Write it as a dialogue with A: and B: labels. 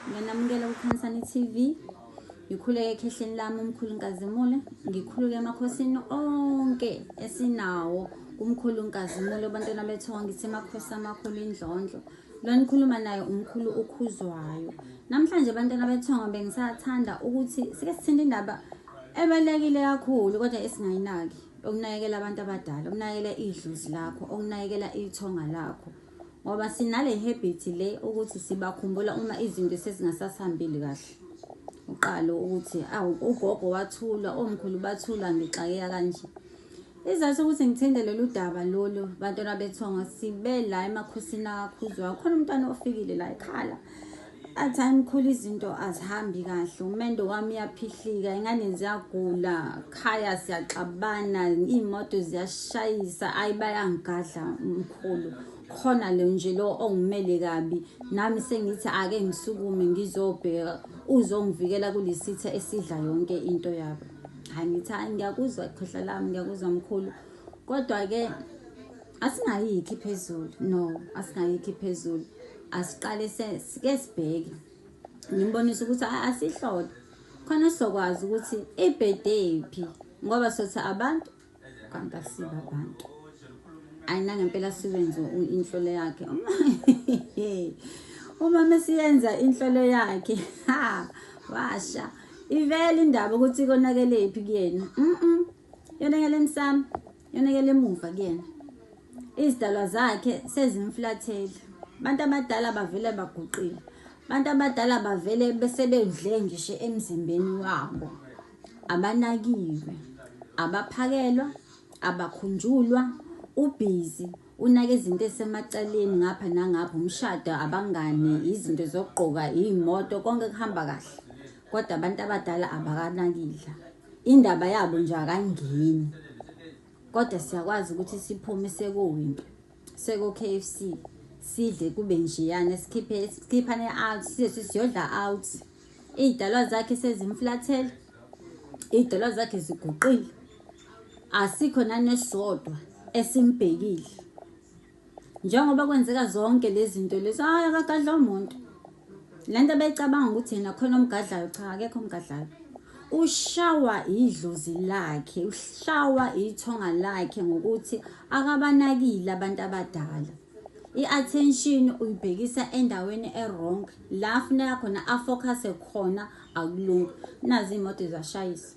A: Ngiyanamukela kuKhansani TV. Ngikhuleke ekhehleni lami umkhulu Nkazimule. Ngikhuluke emakhosini onke esinawo kumkhulu Nkazimule bantwana bethu ngithi makhosi amakhulu indlondlo. Lo nikhuluma naye umkhulu ukhuzwayo. Namhlanje bantwana bethu bengisathanda ukuthi sike sithinte indaba ebalekile kakhulu kodwa esingayinaki okunakekela abantu abadala, okunakekela idlozi lakho, okunakekela ithonga lakho. ngoba sinale habit le ukuthi sibakhumbula uma izinto sezingasasihambeli kahle uqalo ukuthi awu ugogo wathulwa omkhulu bathulwa ngixakeka kanje izathu ukuthi ngithinde lolu daba lolu bantwana bethongo sibe la emakhosini akakhuzwayo khona umntwana ofikile la ekhala At time khulu izinto azihambi kahle umendo wami uyaphihlika ingane ziyagula khaya siyaxabana iy'moto ziyashayisa ayi bayangigadla mkhulu khona lo nje lo ongimele kabi nami sengithi ake ngisukume ngizobheka uzongivikela kulesitha esidla yonke into yabo hayi ngithi hayi ngiyakuzwa khohla lami ngiyakuzwa mkhulu kodwa-ke asingayikhi phezulu no asingayikhi phezulu asiqale sike sibheke ngimbonisa ukuthi asihlole khona sizokwazi ukuthi ibhede phi ngoba sothi abantu kanti asiba abantu ayina ngempela siwenze inhlolo yakhe uma mesiyenza inhlolo yakhe ha washa ivele indaba ukuthi konakelephi kuyena mhm Yonakele emsamo, yonakele emuva kuyena. Izidalwa zakhe sezimflathele. Abantu abadala bavele baguqile. Abantu abadala bavele besebedle ngisho emzimbeni wabo. Abanakiwe, abaphakelwa, abakhunjulwa, ubhizi unaka izinto esemacaleni ngapha nangapha umshado abangani izinto zokugqoka iy'moto konke kuhamba kahle kodwa abantu abadala abakanakile Indaba yabo nje akangeni. Kodwa siyakwazi ukuthi siphume sekuyinto. Seko KFC sidle kube njeyana sikhiphe sikhiphane out sithi siyodla out. Idalwa zakhe sezimflathela. Idalwa zakhe ziguqile. Asikho nanesodwa esimbhekile. Njengoba kwenzeka zonke lezi zinto lezi, hhayi akagadla umuntu. Le nto beyicabanga ukuthi yena khona omgadlayo, cha akekho omgadlayo. Ushawa idlozi lakhe, ushawa ithonga lakhe ngokuthi akabanakile abantu abadala. I-attention uyibhekisa endaweni e-wrong, la afuneka khona afocuse khona akulungi. Nazi iy'moto ziyashayisa.